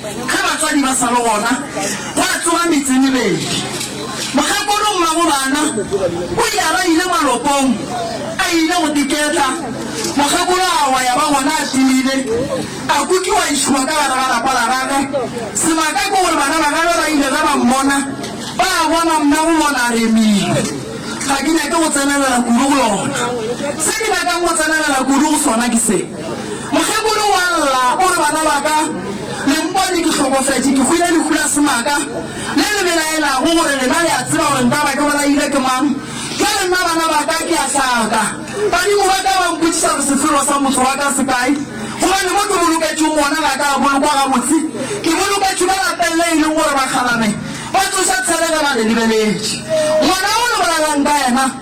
Ge batswadi ba sa le gona, gwa tsoga metse e mebedi. Mokgekolo mmago bana o ile a ba ile malopong, a ile go diketla. Mokgekolo a wa ya ba gona a timile, a kukiwa a išowa ka gare ga lapa la gage. Sebaka ke gore bana ba gagwe ba ile ge ba mmona, ba bona mmago bona a remile. Ga ke nyake go tsenelela kudu go yona. Se ke nyakang go tsenelela kudu go sona ke se. Mokgekolo wa lla o re, Bana ba ka, le mpone ke hlokofetše, ke hwile lehu la semaka, le le belaelago gore lena le a tseba gore ntaba ke bolailwe ke mang. Bjale nna, bana ba ka, ke a hlaka. Badimo ba ka ba mpotšiša gore sefelo sa motho wa ka se kae, gobane mo ke boloketšwego gona ga ka a bolokwa gabotse. Ke boloketšwe ka lapeng le e lego gore bakgalabje ba tsoša tshelegela le lebeletše ngwana wo le bolalelang ka yena.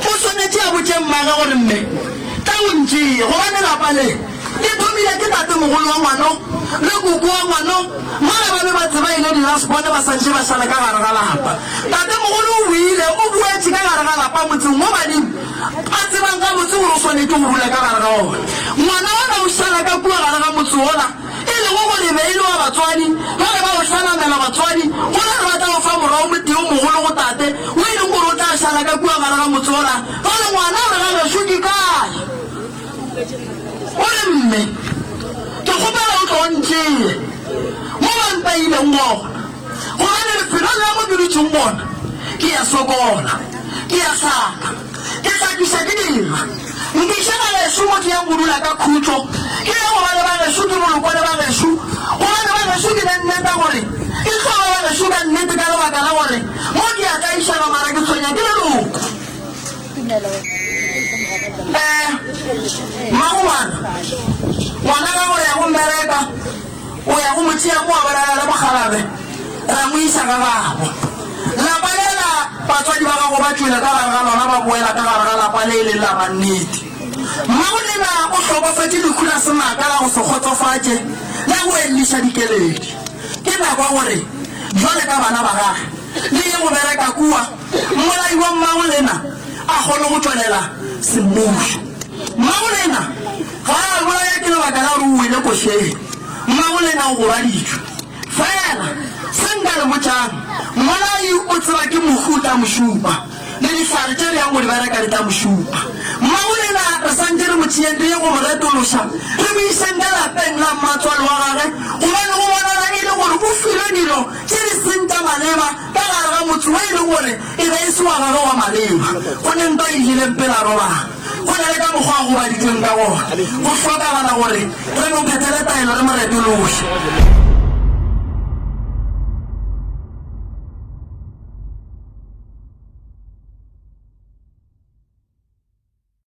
O swanetše a botše mmagwe gore, Mme, tla o ntšee, gobane lapa le, le thomile ke tatemogolo wa ngwano le koko wa ngwano, mola ba be ba tseba e le di-last born ba sa ntše ba šale ka gare ga lapa. Tatemogolo o boile, o boetše ka gare ga lapa, motseng wo badimo ba tsebang gabotse gore o swanetše go dula ka gare ga wona. Ngwana ona o šala ka kua gare ga motse wola. e lego gore e be e le wa batswadi ba be ba o hlanamela batswadi go na le ba tla o fa morwa o motee o mogolo go tate wo e leng gore o tla šala ka kua gare ga motse o ra ba re ngwana o re ga gešo ke kae o re mme ke kgopela o tlo ntšee mo ba mpaileng gona gobane lefelong la mo ke dutšeng gona ke ya sokola ke ya hlaka Ke tla tliša ke dira. Nkiša bagešo mo ke yang go dula ka khutšo. Ke ya go ba le bagešo ke bolokwe le bagešo. Go ba le bagešo ke ne nne ka gore ke tlo ba bagešo ka nnete ka lebaka la gore mo ke ya ka išega mara ke tshwenya ke leloko. Eh, Mmagobana, ngwana gago ya go mbereka. O ya go mo tšea kua borara le mokgalabje, ra mo iša ga gabo. Lapa le la batswadi ba gago ba tšwele ka gare ga lona ba boela ka gare ga lapa le e leng la mannete. Mmagonena o hlokofetše lehu la senaka la go se kgotsofatše le go elliša dikeledi. Ke nako ya gore, bjale ka bana ba gage, le ye go bereka kua, mmolai wa Mmagolena a kgone go tšwelela semmušo. Mmagolena ga a bolaya ke lebaka la gore o wele košeng. Mmagolena o gobaditšwe. Feela se nka le botšang, mmolai o tseba ke mohu o tla mo šupa, le dihlare tše bjang go di bereka di tla mo šupa. Mmagolena re santše re mo tšeeng re ye go mo retološa, re mo iseng ka lapeng la mmatswale wa gage, gobane go bonala e le gore o filwe dilo Ke disenta maleba ka gare ga motse wo e lego gore e be e se wa gagwe wa maleba. Gomme ntwa e nnileng pele a robala, go na le ka mokgwa a gobaditšweng ka gona, go hlokagala gore re mo phethele taelo re mo retologe.